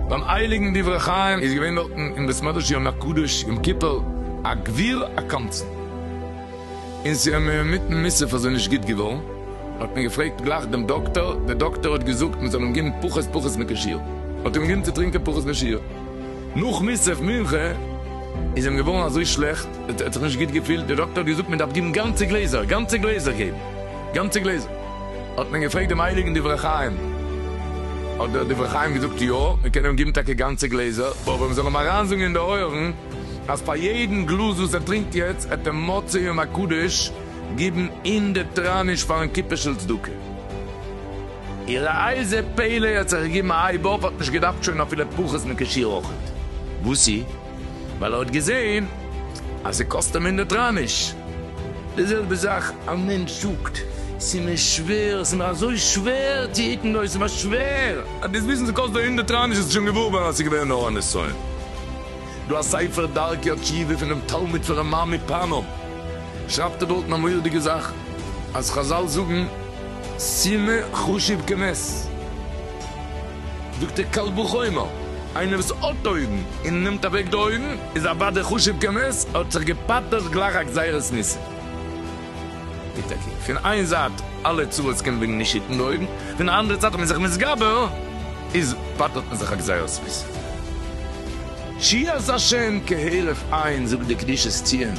ביים הייליגן דברי חיים איז געווען דארטן אין בית מדרש יום הקדוש יום כיפור א גביר א קמצן, און ס'איז אים אינמיטן מוסף אזוי נישט גוט געווארן, האט מען געפרעגט גלייך דעם דאקטאר, דער דאקטאר האט געזאגט מען זאל אים געבן פחות פחות מקושיות, האט אים געגעבן צו טרינקען פחות מקושיות. נאך מוסף מנחה איז אים געווארן אזוי שלעכט, ער האט זיך נישט גוט געפילט, דער דאקטער האט געזאגט מען דארף געבן גאנצע גלעזער, גאנצע גלעזער געבן, גאנצע גלעזער, האט מען געפרעגט דעם הייליגן דברי חיים, האט דער דברי חיים געזאגט יא, מען קען אים געבן טאקע גאנצע גלעזער, אבער מען זאל אים אריינזאגן אין די אויערן אז פאר יעדן גלאז וואס ער טרינקט יעצט העט ער מוצאי יום הקדוש געבן הונדערט טראניש פארן קופערשל צדקה. איר אייזע פעלער האט זיך געגעבן א הייב אויף, האט נישט געדארפט שוין אפילו פחות מ'קעשיר אויך ניט. וואסי? ווייל ער האט געזען אז ס'קאסט אים הונדערט ראניש. די זעלבע זאך א מענטש זאגט, ס'איז מיר שווער, ס'איז מיר אזוי שווער צו היטן דאס, ס'איז מיר שווער. אז דאס וויסן ס'קאסט דיר הונדערט ראניש האסטו שוין געוואר געווארן אז ס'איז געווען נאר א נסיון. דא א ספר דרכי התשובה פונעם תלמיד פון רמ מ פאנאם שרייבט ער דארטן א מורא'דיגע זאך אז חזל זאגן, סימא חשוב כמת. זאגט דער קל וחומר, איינער וואס האט אויגן און נעמט אוועק די אויגן איז אוודאי חשוב כמת, ער האט זיך געפטר'ט גלייך א גזירת ניסים. איז טאקע פון איין זייט אלע צרות קומען וועגן נישט היטן די אויגן, פון די אנדערע זייט אז מ'איז זיך מתגבר איז פטר'ט מען זיך א גזירת ניסים. שירת השם כהרף עין זאגט דער קדושת ציון,